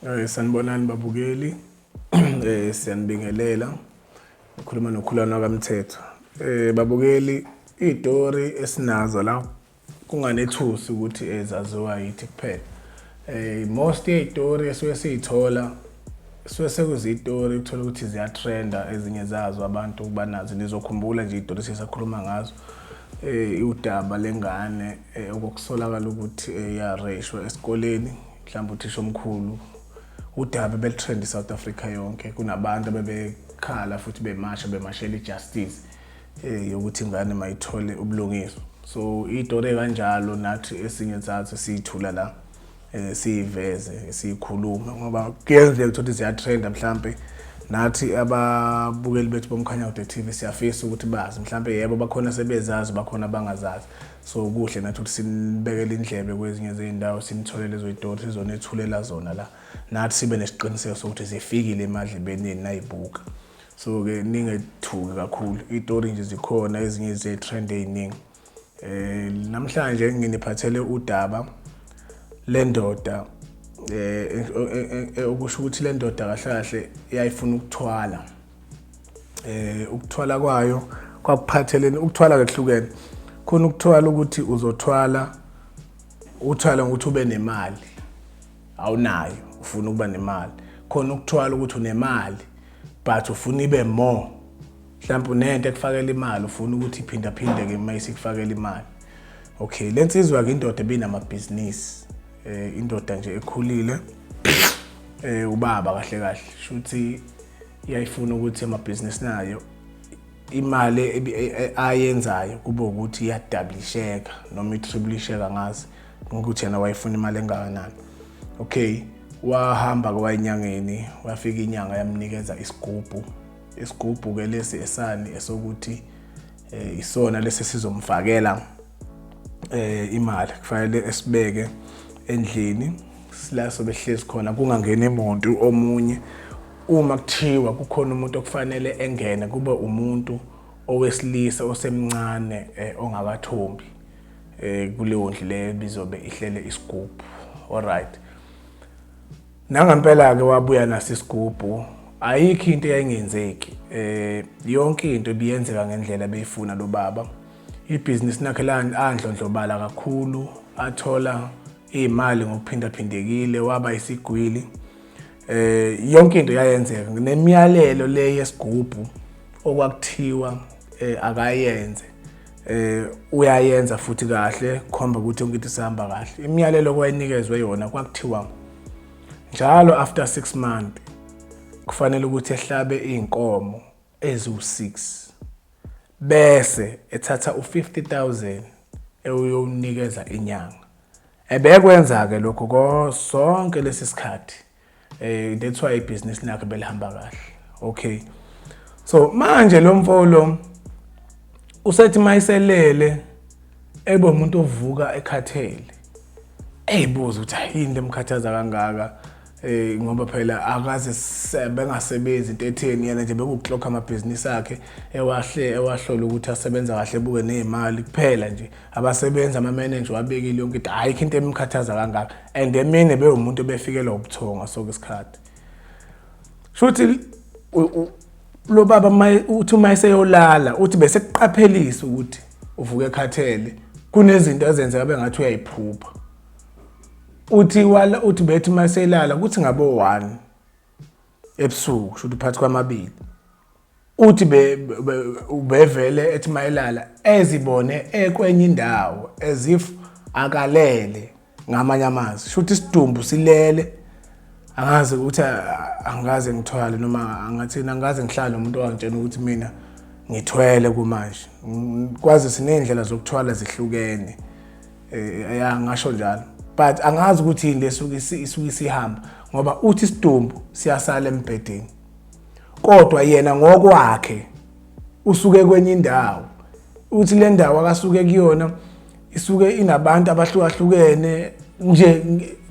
Eh sanibonani babukeli. Eh siyanibingelela. Ukhuluma nokhulana kaMthetho. Eh babukeli izitori esinazo la kunganethusi ukuthi ezaziwa yithi kuphela. Eh most yezitori esuke siyithola Suke sekuzitori ukuthola ukuthi ziyatrenda ezinye zazo abantu banazi nizokhumbula nje itori sisakhuluma ngazo eh udaba lengane eh, okusolakala ukuthi eh, yareshwa esikoleni mhlawumbe uthisha omkhulu udaba belutrend iSouth Africa yonke kunabantu abebekhala futhi bemasha bemashela ijustice eh yokuthi ingane mayithole ubulungiswa so itori kanjalo nathi esinye sathi siyithula la eh, siyiveze siyikhulume ngoba kuyenzeka ukuthi ziyatrenda mhlampe nathi ababukeli bethu bomkhanya kude TV siyafisa ukuthi bazi mhlampe yebo bakhona sebezazi bakhona bangazazi so kuhle nathi ukuthi sinibekele indlebe kwezinye zezindawo sinitholele ezoyitori sizonethulela zona la nathi sibe nesiqiniseko sokuthi zifikile emadlebeni nayibuka so ke ningethuki kakhulu itori nje zikhona ezinye zetrend eziningi Eh namhlanje nginiphathele udaba lendoda eh, eh, eh, eh okusho ukuthi lendoda kahle kahle yayifuna ukuthwala eh ukuthwala kwayo kwakuphatheleni ukuthwala kwehlukene khona ukuthwala ukuthi uzothwala uthwala ukuthi ube nemali awunayo ufuna ukuba nemali khona ukuthwala ukuthi unemali but ufuna ibe more mhlawumbe unento ekufakela imali ufuna ukuthi iphindaphindeke uma isikufakela imali okay le nsizwa-ke indoda ebinamabhizinisi um eh, indoda nje ekhulile um ubaba kahle kahle shuthi iyayifuna ukuthi amabhizinisi nayo imali e, e, ayenzayo kube ukuthi iyadablisheka noma itriblisheka ngazi ukuthi yena wayefuna imali engakanani okay wahamba kwayinyangeni wafika inyanga yamnikeza isigubhu Isigubhu ke lesi esani esokuthi eh, isona lesi sizomfakela eh imali kufanele esibeke endlini sila sobehlezi khona kungangeni umuntu omunye uma kuthiwa kukhona umuntu okufanele engene kube umuntu owesilisa osemncane eh, ongakathombi eh, kuleyo ndlu leyo bizobe ihlele isigubhu alright Nangampela-ke wabuya naso isigubhu ayikho into eyayingenzeki eh yonke into ibiyenzeka ngendlela beyifuna lo baba ibhizinisi lakhe landlondlobala kakhulu athola imali ngokuphindaphindekile waba isigwili eh yonke into yayenzeka nemiyalelo le yesigubhu okwakuthiwa eh, akayenze eh uyayenza futhi kahle khomba ukuthi yonke into isihamba kahle imiyalelo kwayinikezwe yona kwakuthiwa njalo after 6 months kufanele ukuthi ehlabe izinkomo eziwu6 bese ethatha u50000 ewuyonikeza inyanga ebekwenza ke lokho konke lesisikhathi eh that's why ibhizinisi lakhe belihamba kahle okay so manje lo mfolo usethi mayiselele ebe umuntu ovuka ekhathele eyibuza ukuthi yini lemkhathaza kangaka eh ngoba phela akaze bengasebenzi into etheni yena nje bekuclock amabhizinisi akhe ewahle ewahlola ukuthi asebenza kahle buke nezimali kuphela nje abasebenzi amamenenja wabekile yonke into ayikho into emkhathaza kangaka and emine bewumuntu obefikelwa ubuthongo soke isikhathi shuthi lo baba uthi uma eseyolala uthi bese kuqaphelisa ukuthi uvuke ekhathele kunezinto ezenzeka bengathi uyayiphupha uthi wala uthi bethi uma eselala kuthi ngabo 1 ebusuku shuthi phakathi kwamabili Uthi ubevele ethi mayelala ezibone ekwenye indawo as if akalele ngamanye amazwi shuthi isidumbu silele angazi ukuthi angikaze ngithwale noma angathini angikaze ngihlale nomuntu owangitshena ukuthi mina ngithwele kumanje kwazi siney'ndlela zokuthwala zihlukene eh, ya ngasho njalo but angazi ukuthi yini lesuke isuke isihamba ngoba uthi isidumbu siyasala embhedeni kodwa yena ngokwakhe usuke kwenye indawo uthi le ndawo akasuke kuyona isuke inabantu abahlukahlukene nje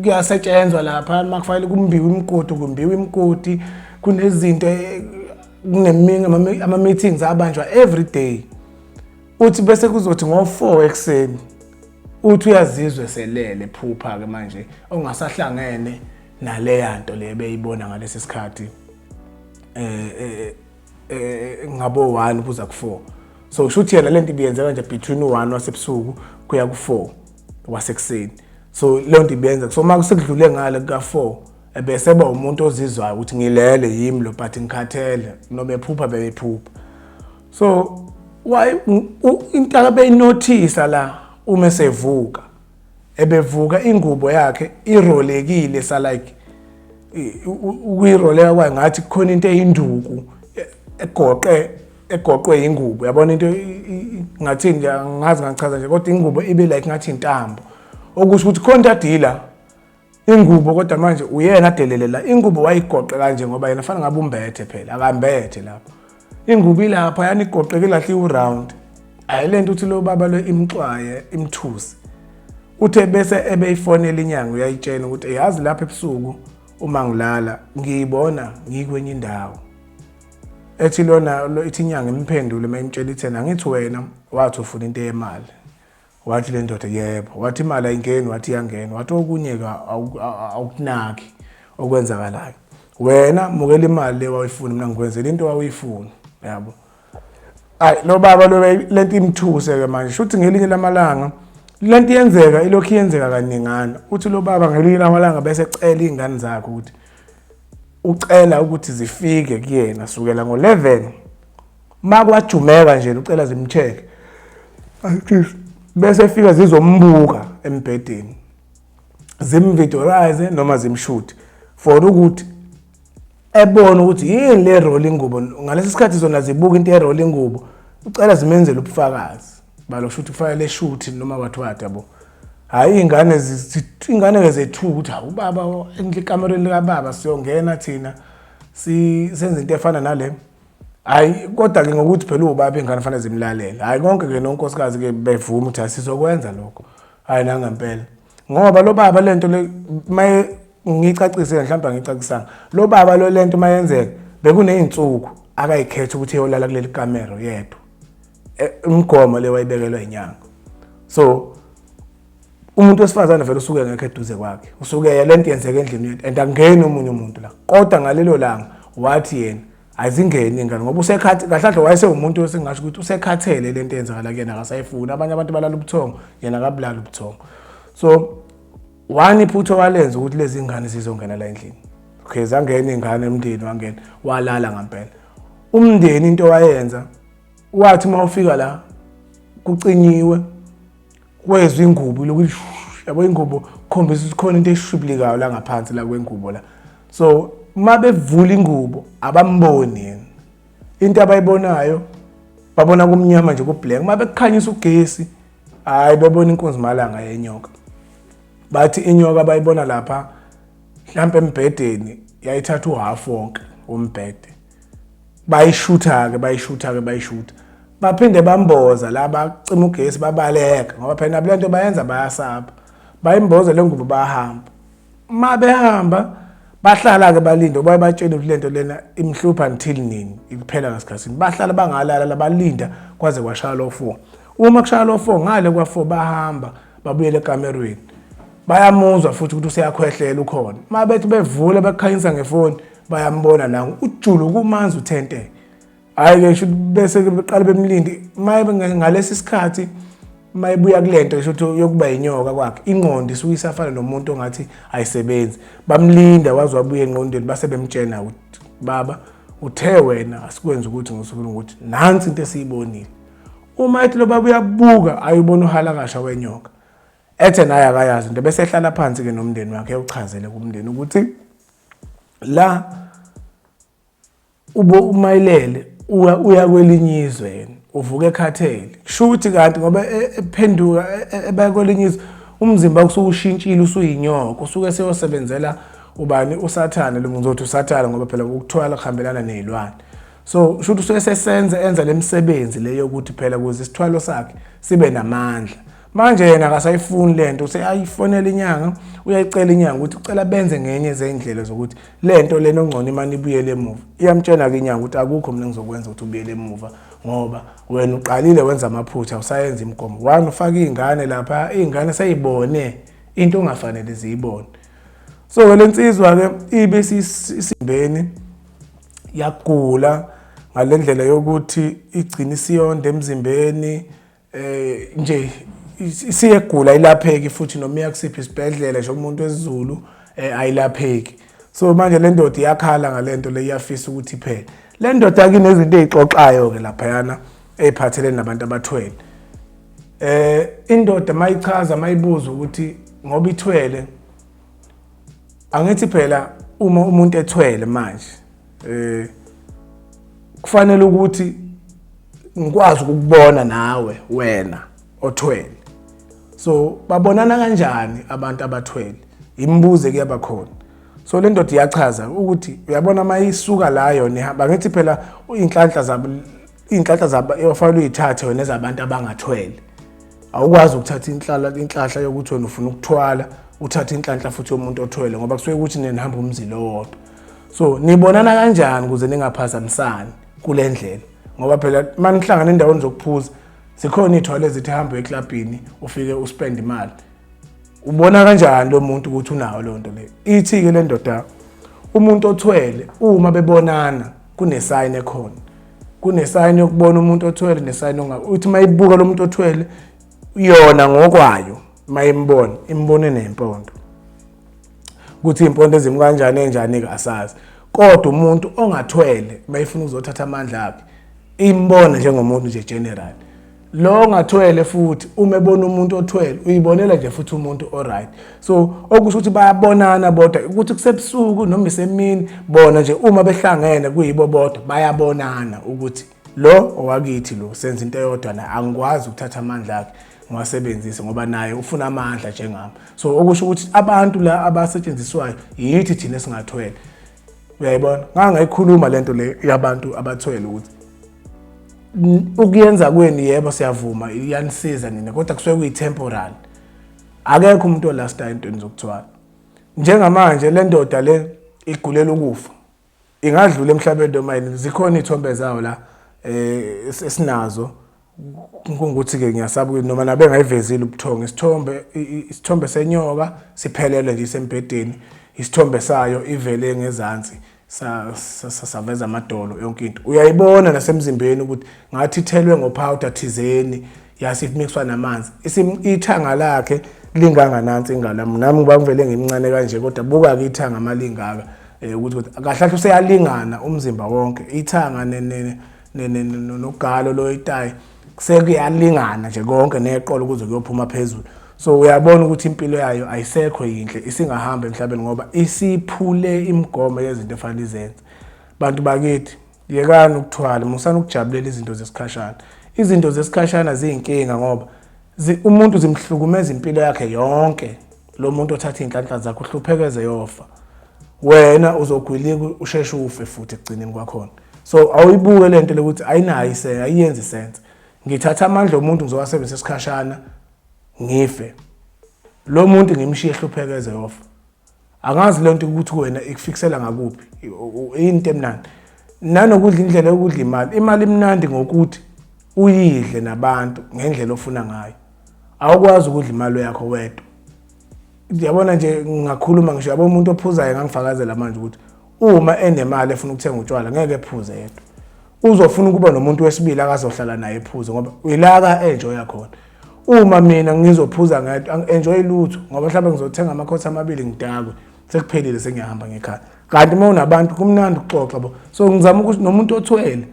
kuyasetshenzwa lapha uma kufanele kumbiwe imigodi kumbiwe imigodi kunezinto eh, kuneminye ama-meetings abanjwa every day uthi bese kuzothi ngo-four ekuseni uthi uyazizwa eselele phupha-ke manje ongasahlangene naleya nto le beyibona ngalesi sikhathi eh, eh, eh ngabo 1 kuza ku4 so kusho ukuthi yena lento ibiyenzeka nje between u1 wasebusuku kuya ku4 wasekuseni so leyo nto ibenza so uma kusekudlule ngale kuka4 ebese ba umuntu ozizwayo ukuthi ngilele yimi lo but ngikhathele noma ephupha beyiphupha so why intaka beyinothisa la uma sevuka ebevuka ingubo yakhe irolekile sa like ukuyiroleka kwayo ngathi kukhona into eyinduku egoqe egoqwe ingubo yabona into ngathi nje ngazi ngachaza nje kodwa ingubo ibe like ngathi intambo okusho ukuthi khona dadila ingubo kodwa manje uyena adelelela ingubo wayigoqe kanje ngoba yena fanele ngabe umbethe phela akambethe lapho ingubo ilapha yanigoqeke lahle iwuround ayi lento uthi lo baba lo imxwaye imthusi uthe bese ebeyifonela inyanga uyayitshena ukuthi yazi lapha ebusuku uma ngilala ngiyibona ngikwenye indawo ethi lona ithi inyanga imphendule mayimtshela ithena ngithi wena wathi ufuna into yemali Wathi le ndoda yebo, wathi imali ayingeni, wathi iyangena, wathi okunye-ke awukunaki okwenzakalayo. Wena mukela imali le wawuyifuna, mina ngikwenzela into wawuyifuna, yabo. Ayi lo baba lo le nto imthuse-ke manje, shuthi ngelinye lamalanga le nto iyenzeka ilokhu iyenzeka kaningana uthi lo baba ngelinye lamalanga bese cela iy'ngane zakhe ukuthi ucela ukuthi zifike kuyena sukela ngo-11 uma kwajumeka nje ucela zimcheck bese fika zizombuka embhedeni zimvidorize noma zimshuthi for ukuthi ebona ukuthi yini le role ingubo ngalesi sikhathi zona zibuka into erole ingubo ucela zimenzele ubufakazi balo kusho ukuthi kufanele shuthi noma what what yabo hayi ingane ingane ke zethu ukuthi hawu baba endle kamereni lika baba siyongena thina si senze into efana nale hayi kodwa ke ngokuthi phela ubaba ingane fanele zimlalele hayi konke ke nonkosikazi ke bevuma ukuthi asizokwenza lokho hayi la ngempela ngoba lo baba lento le maye ngicacise mhlawumbe ngicacisanga lo baba lo lento mayenzeka bekuneyinsuku akayikhetha ukuthi eyolala kuleli kamero yedwa e, umgomo le wayibekelwa inyanga so umuntu wesifazane vele usuke ngekho eduze kwakhe usuke yena into yenzeka endlini yethu and angeni omunye umuntu la kodwa ngalelo langa wathi yena azingeni ingane ngoba usekhathi kahlahle wayese umuntu osingasho ukuthi usekhathele lento eyenzakala kuyena akasayifuni abanye abantu balala ubuthongo yena akabulala ubuthongo so wani phutho walenza ukuthi lezi ngane zizongena la endlini okay zangena ingane emndeni wangena walala ngempela umndeni into wayenza wathi uma ufika la kucinyiwe kwezwa ingubo lokhu yabo ingubo khombisa ukuthi khona into eshublikayo la ngaphansi la kwengubo la so uma bevula ingubo abamboni yena into abayibonayo babona kumnyama nje kublack uma bekukhanyisa ugesi hayi babona inkunzi malanga yenyoka bathi inyoka bayibona lapha mhlampe embhedeni yayithatha uhalf wonke wombhede bayishutha-ke bayishutha-ke bayishutha baphinde bamboza la bacima ugesi babaleka ngoba phela nabo lento bayenza bayasaba bayimboze le ngubo bahamba uma behamba bahlala-ke balinde ubaye batshele ukuthi lento lena imhlupha until nini ikuphela ngasikhathini bahlala bangalala labalinda kwaze kwashaya lo four uma kushaya lo four ngale kwa-four bahamba babuyele ekamerweni bayamuzwa futhi ukuthi useyakhwehlela ukhona uma bethi bevule bakukhanyisa ngefoni bayambona la ujulu kumanzi uthente hayi ke sho bese beqala bemlindi maye ngalesi sikhathi mayibuya kulento esho ukuthi yokuba inyoka kwakhe ingqondo isuke isafana nomuntu ongathi ayisebenzi bamlinda waze wabuye engqondweni base bemtshena ukuthi baba uthe wena asikwenza ukuthi ngosuku ukuthi nansi into esiyibonile uma ethi lo baba uyabuka ayubona uhalakasha wenyoka ethe naye akayazi into bese ehlala phansi ke nomndeni wakhe ewuchazele kumndeni ukuthi la ube umayilele uya kwelinye izwe yena uvuka ekhathele kusho ukuthi kanti ngoba e, ephenduka e, e, ebaya kwelinye izwe umzimba kusuke ushintshile usuyinyoko usuke seyosebenzela ubani usathane lo ngizothi usathane ngoba phela ukuthwala kuhambelana nezilwane so kusho ukuthi usuke sesenza enza lemisebenzi leyo ukuthi phela kuze isithwalo sakhe sibe namandla manje yena akasayifuni le nto useyayifonela inyanga uyayicela inyanga ukuthi ucela benze ngenye zey'ndlela zokuthi le nto lena ongcono imane ibuyele emuva iyamtshena-ke inyanga ukuthi akukho mina ngizokwenza ukuthi ubuyele emuva ngoba wena uqalile wenza amaphutha usayenza imigomo wani ufake iy'ngane lapha iy'ngane seyibone into ongafanele ziyibone so-ke le nsizwa-ke ibe sisimbeni yagula ngale ndlela yokuthi igcina isiyonda emzimbeni eh nje siyegula ilapheki futhi noma iyakusiphi isibhedlela nje umuntu wesizulu eh, ayilapheki so manje le ndoda iyakhala ngalento le iyafisa ukuthi phela le ndoda akinezinto ezixoxayo ke lapha yana eziphathelene nabantu abathwele eh indoda mayichaza mayibuza ukuthi ngoba ithwele angithi phela uma umuntu ethwele manje eh kufanele ukuthi ngikwazi ukubona nawe wena othwele so babonana kanjani abantu abathwele imibuze kuyaba khona so le ndoda iyachaza ukuthi uyabona uma isuka la yona ihamba ngithi phela iy'nhlanhla zabo iy'nhlanhla zabo ofanele uyithathe wena ezabantu abangathwele awukwazi ukuthatha inhlala inhlahla yokuthi wena ufuna ukuthwala uthathe inhlanhla futhi yomuntu othwele ngoba kusuke ukuthi nina nihamba umzila owodwa so nibonana kanjani ukuze ningaphazamisani kule ndlela ngoba phela uma nihlangana endaweni zokuphuza zikhona iy'thwalo ezithi hambe eklabhini ufike uspend imali ubona kanjani lo muntu ukuthi unawo loo nto leyo ithi-ke le ndoda umuntu othwele uma bebonana kunesayini ekhona kunesayini yokubona umuntu othwele nesayini ongabe uthi uma ibuka lo muntu othwele yona ngokwayo uma imbona imbone nempondo ukuthi impondo ezimu kanjani enjani ke asazi kodwa umuntu ongathwele mayifuna ukuzothatha amandla akhe imbona njengomuntu nje general lo ongathwele futhi uma ebona umuntu othwele uyibonela nje futhi umuntu oright so okusho ukuthi bayabonana bodwa ukuthi kusebusuku noma isemini bona nje uma behlangene kuyibo bodwa bayabonana ukuthi lo owakithi lo senza into eyodwa naye angikwazi ukuthatha amandla akhe ngiwasebenzise ngoba naye ufuna amandla njengami so okusho ukuthi abantu la abasetshenziswayo yithi thina singathwele uyayibona ngangayikhuluma lento le yabantu abathwele ukuthi ukuyenza kweni yebo siyavuma iyanisiza nina kodwa kusuke kuyi-temporal akekho umuntu olastayo entweni zokuthwala njengamanje le ndoda le igulela ukufa ingadlula emhlabeni noma yini zikhona iy'thombe zawo la eh esinazo kungukuthi-ke ngiyasaba ukuthi noma nabe ngayivezile ubuthongo isithombe isithombe senyoka siphelele nje isembhedeni isithombe sayo ivele ngezansi saveza amadolo yonke into uyayibona nasemzimbeni ukuthi ngathi ithelwe ngophawuda thizeni yase kumixwa namanzi ithanga lakhe linganganansi ingane yami nami ngiba ngivele ngimncane kanje kodwa buka-ke ithanga uma lingaka um ukuthi ukuthi kahlahle useyalingana umzimba wonke ithanga nogalo loyitayi sekuyalingana nje konke neqolo kuze kuyophuma phezulu so uyabona ukuthi impilo yayo ayisekho yinhle isingahamba emhlabeni ngoba isiphule imigomo yezinto efanele izenze bantu bakithi Yekani ukuthwala, musani ukujabulela izinto zesikhashana. Izinto zesikhashana ziyinkinga ngoba umuntu zimhlukumeza impilo yakhe yonke. Lo muntu othatha iy'nhlanhla zakhe uhluphekeze yofa. Wena uzogwilika usheshe ufe futhi ekugcineni kwakhona. So awuyibuke le nto lokuthi ayinayo isense, ayiyenzi isense. Ngithatha amandla omuntu ngizowasebenzisa isikhashana ngife. Lo muntu ngimshiye ehluphekeze yofa. angazi lento ukuthi wena ikufikisela ngakuphi into emnandi nanokudla indlela yokudla imali imali imnandi ngokuthi uyidle nabantu ngendlela ofuna ngayo awukwazi ukudla imali yakho wedwa yabona nje ngingakhuluma ngisho yabo umuntu ophuzayo ngangifakazela manje ukuthi uma enemali efuna ukuthenga utshwala ngeke ephuze yedwa uzofuna ukuba nomuntu wesibili akazohlala naye ephuze ngoba uyilaka enjoy yakhona uma mina ngizophuza ngedwa enjoy lutho ngoba mhlawumbe ngizothenga amakhotha amabili ngidakwe sekuphelile sengiyahamba ngekhaya kanti uma unabantu kumnandi ukuxoxa bo so ngizama ukuthi nomuntu othwele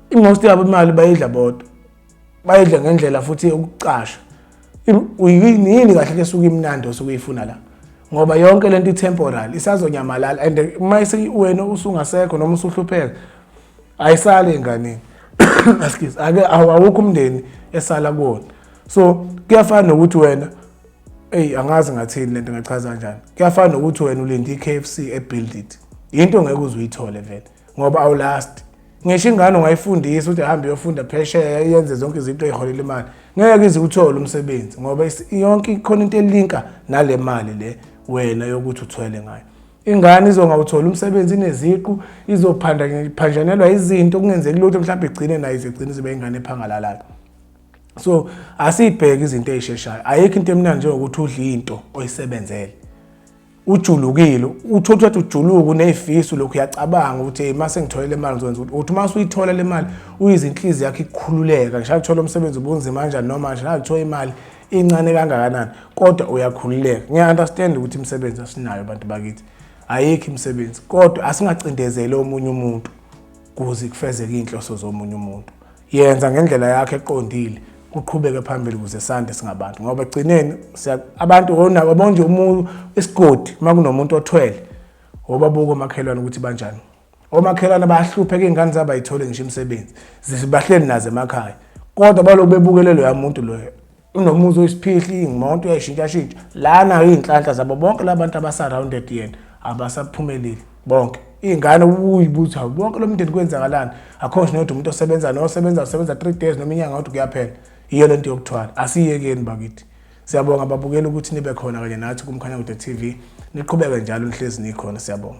imost yabo imali bayidla bodwa bayidle ngendlela futhi yokucasha uyini yini kahle ke suka imnandi osuke uyifuna la ngoba yonke lento itemporary isazonyamalala and uma wena usungasekho noma usuhlupheka ayisali enganeni excuse ake awukho umndeni esala kuwona so kuyafana nokuthi wena eyi angazi ngathini lento ngachaza kanjani kuyafana nokuthi wena ulinde i-kfc ebuild it yinto ngeke uze uyithole vele ngoba awulast ngisho ingane ungayifundisa ukuthi hambe yofunda phesheya yenze zonke izinto eziholela imali ngeke ize uthole umsebenzi ngoba yonke ikhona into elinka nale mali le wena yokuthi uthwele ngayo ingane izongawutholi umsebenzi ineziqu izophanjanelwa izinto kungenzeki lutho mhlawumbe igcine nayo izigcine zibe ingane ephangalalayo so asiyibheke izinto ezisheshayo ayikho into emnandi njengokuthi udle into oyisebenzele ujulukile uthi uthi wathi ujuluku nezifiso lokhu uyacabanga ukuthi hey mase ngithole le mali ngizokwenza ukuthi uthi mase uyithola le mali uyizinhlizi yakhe ikhululeka ngisho uthola umsebenzi ubunzima kanjani noma nje uthola imali incane kangakanani kodwa uyakhululeka ngiya understand ukuthi imisebenzi asinayo abantu bakithi ayikho imisebenzi kodwa asingacindezele omunye umuntu kuze kufezeke izinhloso zomunye umuntu yenza ngendlela yakho eqondile kuqhubeke phambili kuze sande singabantu ngoba egcineni abantu wabona nje umuntu isigodi uma kunomuntu othwele wobabuka omakhelwane ukuthi banjani omakhelwane bayahlupheka iy'ngane zabo ayithole ngisho imisebenzi zibahleli nazo emakhaya kodwa baloku bebukelelo yamuntu loyo unomuzi oyisiphihli imoto uyayishintshashintsha lana iy'nhlanhla zabo bonke la bantu abasurrounded yena abasaphumelile bonke iy'ngane uyibuthi hawu bonke lo mndeni kwenzakalani akho ngisho nokuthi umuntu osebenza nosebenza usebenza three days noma inyanga kodwa kuyaphela yiyo le nto yokuthwala asiyekeni bakithi siyabonga ababukeli ukuthi nibe khona kanye nathi kumkhanyakude tv niqhubeke njalo nihlezi nikhona siyabonga